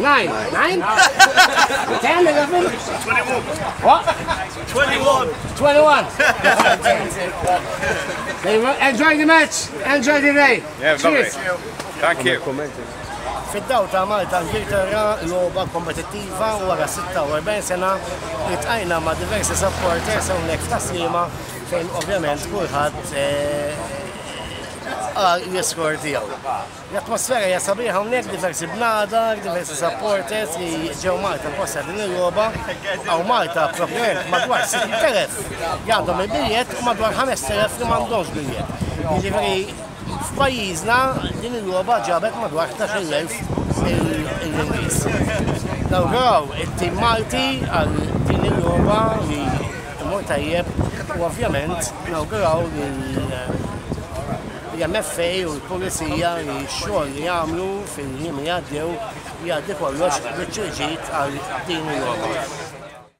Nine. Nine? Ten, eleven? Twenty-one. What? Twenty-one. Twenty-one. Enjoy the match. Enjoy the day. Yeah, Cheers. Thank you. Fid-daw ta' Malta Ingilterra logħba kompetittiva wara 46 sena itqajna ma' diversi supporters hawnhekk ta' slima fejn ovvjament kulħadd eh, għal l-iskor tiegħu. L-atmosfera hija sabiħa hawnhekk diversi bnadar, diversi supporters li ġew Malta apposta din il-logħba. Hawn Malta proprjament madwar 60,000 li għandhom il-biljett u madwar 5,000 li m'għandhomx biljett. Jiġifieri f'pajjiżna din il-logħba ġabet madwar 11,000 il-Ingliż. Nawguraw it-tim Malti għal din il-logħba li imur tajjeb u ovvjament nawguraw lil L-MFA u l-Pulizija li x-xogħol li għamlu fil-jiem li għaddew jgħaddi kollox bit-twiġid għal din il-logħba.